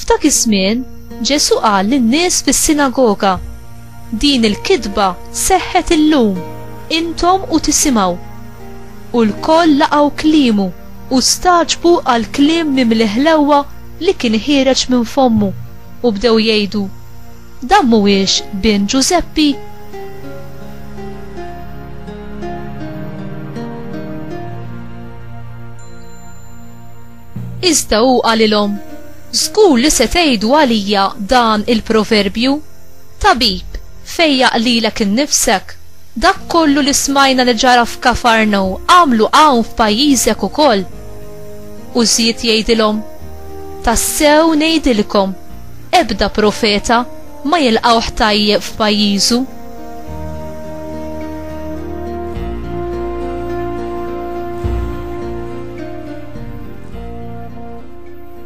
F'dak iż-żmien, Ġesù qal lin-nies fis-sinagoga, Din il-kitba seħħet illum, intom u tisimgħu. U lkoll laqgħu kliemu u stagħġbu għall-kliem mimli ħlewwa li kien ħiereġ minn fommu, u bdew jgħidu, Dan mhuwiex bin Ġużeppi? Iżda hu qalilhom, Żgur li se tgħidu għalija dan il-proverbju, Tabib, fejjaq lilek innifsek, dak kollu li smajna li ġara f'Kafarnaw agħmlu hawn f'pajjiżek ukoll. U żied jgħidilhom, Tassew ngħidilkom, ebda profeta ma jilqgħuh tajjeb f'pajjiżu.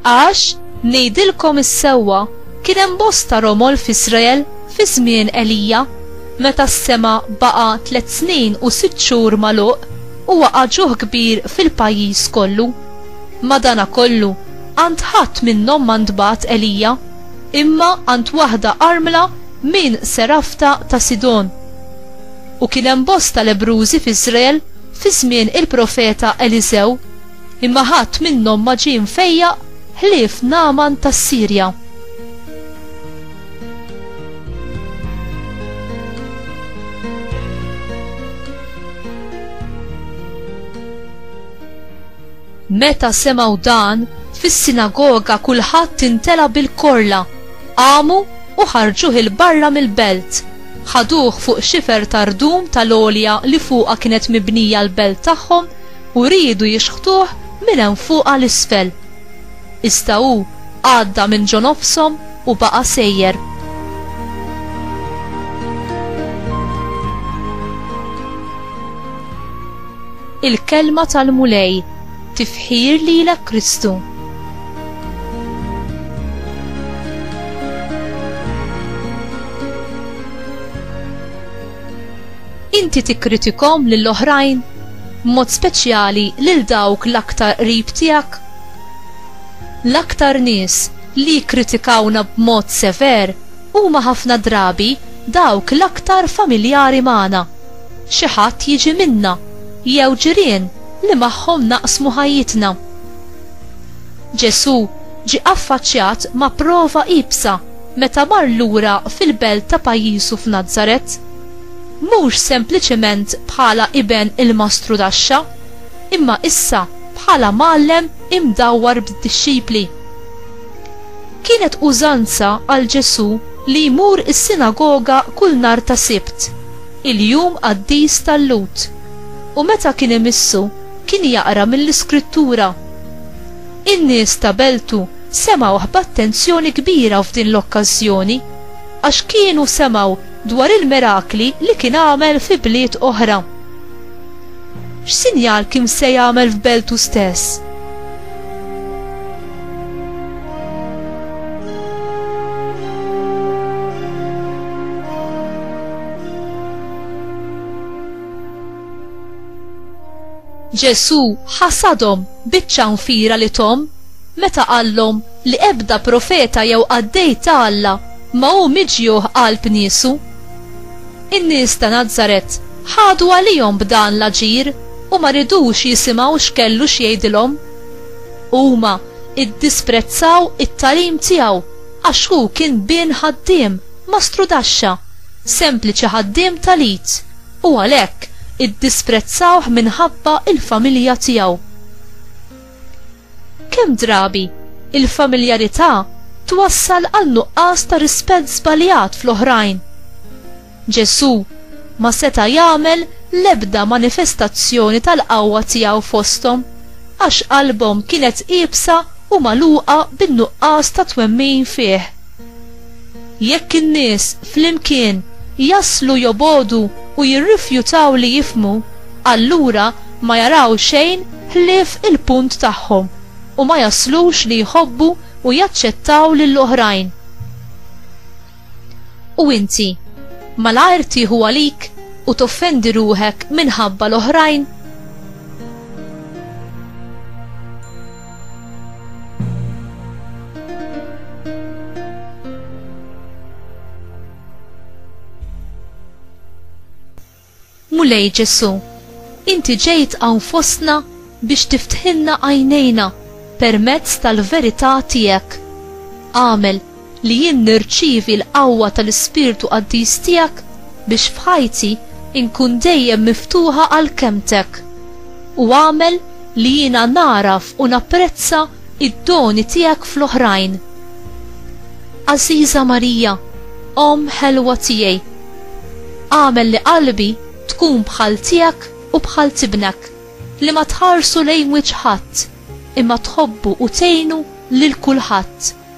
Għax, ngħidilkom is-sewwa, kien hemm bosta romol f'Israel fi żmien Elija, meta s-sema baqa' tliet snin u sitt xhur magħluq u waqa' ġuħ kbir fil-pajjiż kollu. Madanakollu, għand ħadd minnhom ma ntbagħat Elija, imma għand waħda armla minn Serafta ta' Sidon. U kien hemm bosta lebrużi f'Israel fi żmien il-profeta Eliżew, imma ħadd minnhom ma ġie mfejjaq ħlief Nagħman tas-Sirja. Meta semgħu dan, fis-sinagoga kulħadd intela' bil-korla, qamu u ħarġuh il-barra mill-belt. Ħaduh fuq xifer ta' rdum tal-għolja li fuqha kienet mibnija l-belt tagħhom u riedu jixħtuh minn hemm fuq għal isfel. Iżda hu għadda minn ġo nofshom u baqa' sejjer. il-kelma tal-Mulej. Tifħir lilek Kristu. inti tikkritikom lill oħrajn mod speċjali lil dawk l-aktar qrib tiegħek? L-aktar nies li jikkritikawna b'mod sever huma ħafna drabi dawk l-aktar familjari magħna. Xi ħadd jiġi minna jew ġirien li magħhom naqsmu ħajjitna. Ġesù ġie affaċċjat ma' prova iebsa meta mar lura fil-belt ta' pajjiżu f'Nazaret. Mhux sempliċement bħala iben il-mastru taxxa, imma issa bħala mgħallem imdawwar b'dixxipli. Kienet użanza għal Ġesù li jmur is-sinagoga kull nhar ta' Sibt, il-jum qaddis tal-Lhud, u meta kien imissu, kien jaqra mill-Iskrittura. In-nies ta' beltu semgħuh b'attenzjoni kbira f'din l-okkażjoni, għax kienu semgħu dwar il-mirakli li kien għamel fi bliet oħra. X'sinjal kien se jagħmel f'beltu stess? Ġesù ħasadhom biċ-ċanfira li thom meta qallhom li ebda profeta jew qaddej ta' Alla ma hu miġjuh qalb niesu. In-nies ta' Nazaret ħadu għalihom b'dan l-aġir u ma ridux jisimgħu x'kellu x'jgħidilhom. Huma ddisprezzaw it-tagħlim tiegħu għax hu kien bin ħaddiem, mastrudaxxa, sempliċi ħaddiem tal-id, u għalhekk iddisprezzawh minħabba l-familja tiegħu. Kemm drabi il-familjarità twassal għal nuqqas ta' rispett żbaljat fl-oħrajn. Ġesù ma seta' jagħmel l-ebda manifestazzjoni tal-qawwa tiegħu fosthom għax qalbhom kienet iebsa u magħluqa bin-nuqqas ta' twemmin fih. Jekk in-nies flimkien jaslu jobogħdu u jirrifjutaw li jifhmu, allura ma jaraw xejn ħlief il-punt tagħhom u ma jaslux li jħobbu u jaċċettaw lill-oħrajn. U inti, malajr tieħu għalik u toffendi ruħek minħabba l-oħrajn? Mulej Ġesu, inti ġejt hawn fostna biex tiftħilna għajnejna permezz tal-verità tiegħek. Għamel li jien nirċievi l-qawwa tal-Ispirtu Qaddis tiegħek biex f'ħajti nkun dejjem miftuħa għal kelmtek, u agħmel li jiena nagħraf u napprezza d-doni tiegħek fl-oħrajn. Għażiża Marija, Omm ħelwa tiegħi, agħmel li qalbi tkun bħal tiegħek u bħal tibnek, li ma tħarsu lejn wiċċ ħadd, imma tħobbu u tgħinu lil kulħadd.